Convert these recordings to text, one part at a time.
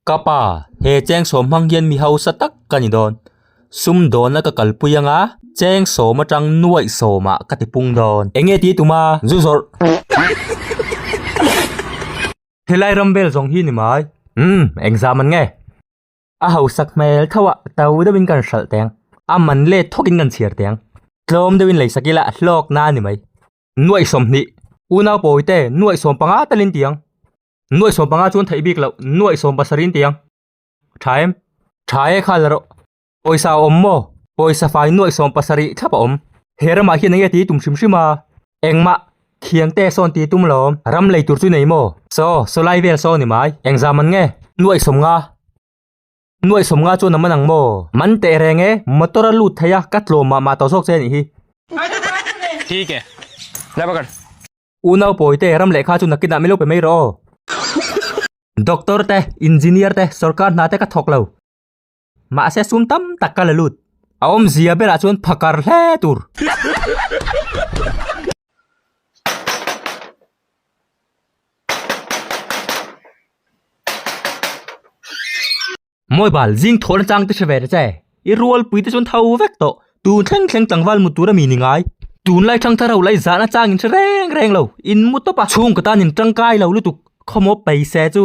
Ka pa, he Chengsawm hmang hian mi hausa tak ka ni dawn. Sumdawn a ka kalpui ang a, Chengsawm atang nuaih sawm ah ka ti pung dawn. Eng nge ti tum a, zu zawrh. Helai ram vel zawng hi ni mai. Umm, engzah man nge. A hausak hmel tho ah to deuh in kan hralh teng. A man let thawk in kan chhiar teng. Tlawm deuh in lei sak ila hlawk na ani mai. Nuaih sawm hnih. Unau pawi te nuaih sawm panga tal in ti ang. Nuaih sawm panga chuan theih bik loh nuaih sawm pasarih in ti ang. Tha em? Tha e kha la rawh. Pawisa a awm maw? Pawisa fai nuaih sawm pasarih thlap a awm. He ramah hian eng nge ti tum hrim hrim a? Engmah Thiang te sawn ti tum lawm. Ram lei tur chu nei maw? Saw, saw lai vel saw ni mai. Eng zam an nge? Nuaih sawm nga. Nuaih sawm nga chuan a man ang maw? Man teh reng e. Motor a lut theih a, ka tlawm mah mah tawh zawk che nih hi. Thik e. Dah va kal. Unau pawi te, ram lehkha chu nakin ah milo pe mai rawh aw. Doctor te, Engineer te, sorkar hna te ka thawk lo. Mahse sum tam tak ka la lut. A awmzia belah chuan pha kar hle tur. Mobile zing thawn atang te hre ve ta che. I rualpui te chuan tho vek tawh. Tun thleng thleng tlangval mut tura mi ni ngai. Tun lai thang thar ho lai zahna changin hre reng reng lo. In mu tawpa chhungkaw tanin tangkai lo lutuk. Khawmaw pei se chu.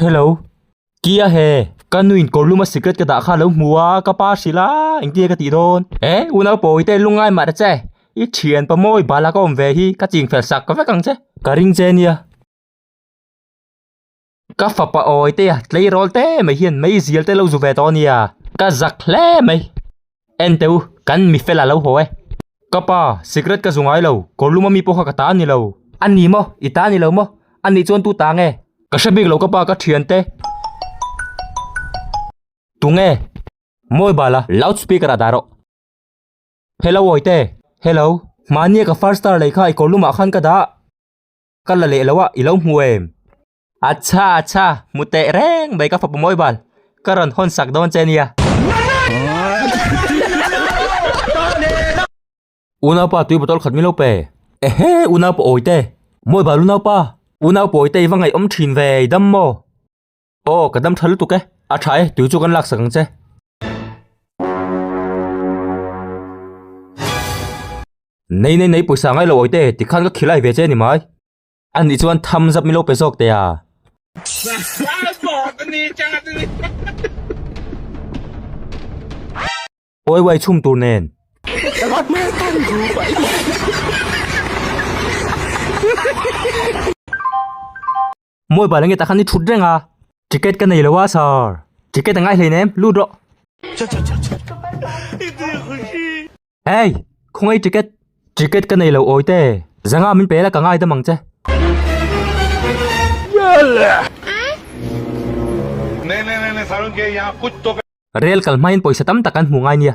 Hello Kia he ka nu in kawrlum a secret ka dah kha lo hmu a ka pa hrilh a engtia ka tih dawn e u naupawh i te lungai mah ta che i thian pa maw i bala ka awm ve hi ka ching fel sak ka vek ang che ka ring che nia ka fapa awi te a tleirawl te mai hian meizial te lo zu ve tawh nia ka zak hle mai. Ente u, kan mi fela lo haw e. Ka pa, cigarette ka zu ngai lo, kawrlum ami pawh kha ka ta a ni lo. A ni maw? I ta a ni lo maw? A nih chuan tu ta nge? Ka hre bik lo ka pa, ka thian te. Tu nge? Mobile-a loudspeaker ah dah rawh. Hello Awite. Hello. Mahnia ka five star lei kha i kawrlumah khan ka dah. Ka la leh lo a, i lo hmu em? Achha achha, hmu teh reng mai ka fapa mawi bal, ka rawn hawn sak dawn che nia. Unaupa tui bottle khat min lo pe. Ehe unaupa awite, mawi bal unaupa, unaupa awite i va ngaihawm thin ve i dam maw? Aw ka dam tha lutuk e, a tha e tui chu kan laksak ang che. Nei nei nei pawisa ngailo awite tikhan ka khilai ve che nimai. A nih chuan thumbs up milo pe zawk teh a. Pawi uai chhum tur nen. Mawi bal ange tah khan i thut reng a. Ticket ka nei lo a sir. Ticket a ngaihlein em, lut rawh. Ei! Khawngaih ticket ticket ka nei lo awite zanga min pela ka ngai dam ang che. Rel kal hmain pawisa tam tak kan hmuh ngai nia.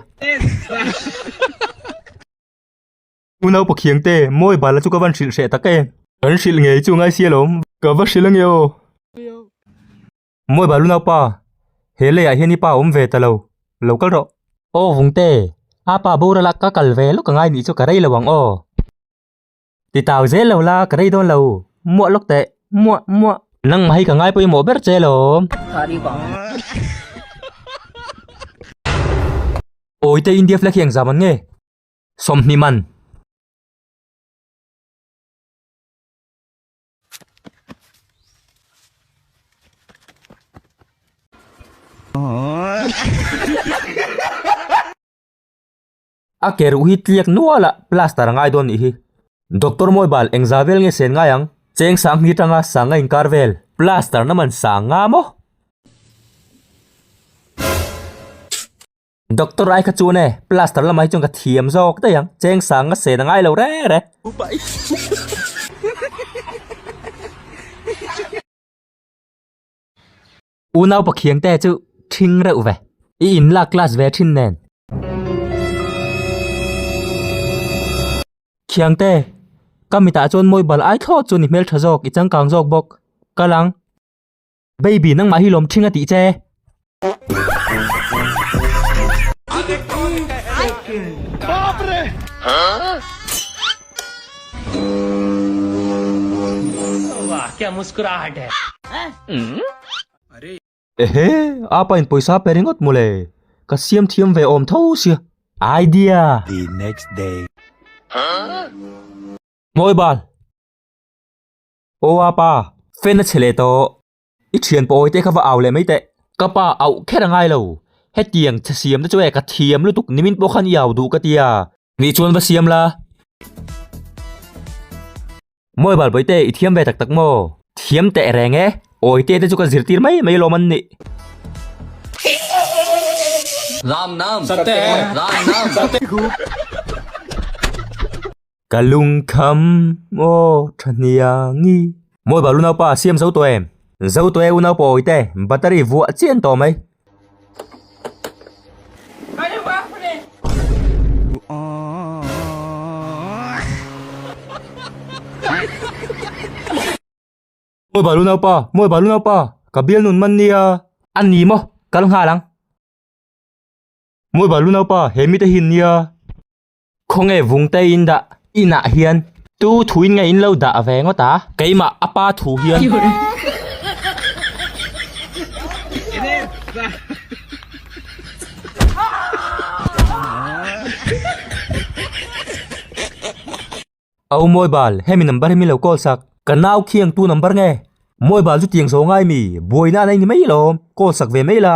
U naupa khiangte mawi bala chu ka van hrilh hreh tak em. Kan hrilh ngei chunga i sialawm. Ka va hrilh ange aw. Mawi balu naupa, he leiah hian i pa awm ve ta lo, lo kal rawh. Aw Vungte, a pa Borala ka kal ve lawk a ngai nih chu ka rei lo ang aw. Ti tau zel lo la, ka rei dawn lo, muah lawk teh, muah, muah. Nangmah hi ka ngai pawh i mawh ber che lawm. Awi te India flag hi engzah man nge? Sawmhnih man. A ke ruh hi tliak nual a plaster a ngai dawn nih hi. Doctor mawi bal engzah vel nge sen ngai ang? Cheng sang hi tang a sang a in kar vel. Plaster na man sang nga maw? Doctor ai kha chuan e plaster lamah hi chuan ka thiam zawk daih ang cheng sang a sen a ngai lo rek rek. U naupa khiang te chu thing reuh ve i in lak class ve thin nen. Khiang te ka mitah chuan mawibal ai thlawt chu ni hmel tha zawk i changkang zawk bawk ka lang. Baby nangmah hi lawm thinga tih che. Ehe, apa in pawisa pe ringawt maw le, ka siam thiam ve awm tho sia. Ai dia! Mawibal! Aw a pa, fan a che leh tawh. I thian pawh awi teh kha va au leh mai teh. Ka pa auh kher a ngai lo. Hetiang chhe siam te chu e ka thiam lutuk nimin pawh khan i au duh ka ti a. Ni chuan va siam la. Maw e Balbawitea i thiam ve tak tak maw? Thiam teh reng e. Awi teh te chu ka zirtir mai mai alawm an nih. Ram nam. Sate. Ram nam. Ka lung kham aw tha hniang i. Mawi balu naupa siam zo tawh em. Zo tawh e u naupawi te, battery vuah chian tawh mai. Mawi balu naupa, mawi balu naupa, ka bial nun man nia. An ni maw, kal nghal ang. Mawi balu naupa, he mite hin nia. Khawnge vung te in dah inah hian. Tu thu in nge in lo dah ve ngawt a. Keimah a pa thu hian. Au Mawibal, hemi number hi min lo call sak. Ka nau khiang tu number nge? Mawibal chu tiang zo ngai mi, buaina an ei ni mai alawm, call sak ve mai la.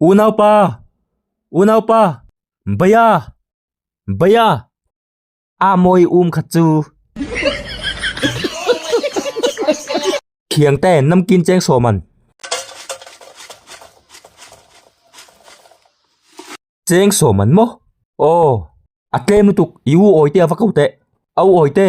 Unaupa! Unaupa! Baya! Baya! A mawi um khat chu. Thiang te namkin cheng sawm an. Cheng sawm an maw? Aw. A tlem lutuk i u awi te a va ko teh. Au awi te.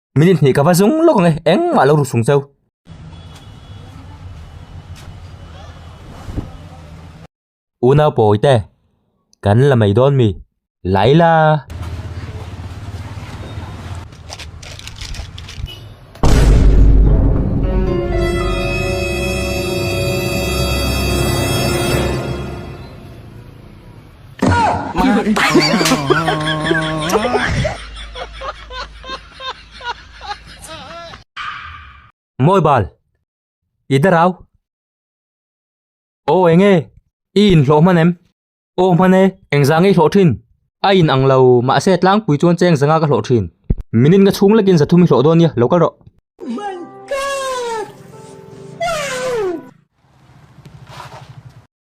Minute hnih ka va zung lawk ang e, engmah lo ru sung chau. Unau pawi te, kan la mei dawn mi. Laila. Mawi bal, i da rau. Aw eng e, i inhlawh hman em? Aw hman e, eng zang i hlawh thin? A in ang lo, mahse tlangpui chuan cheng zanga ka hlawh thin. Minute nga chhung lekin za thum i hlawh dawn nia, lo kal rawh.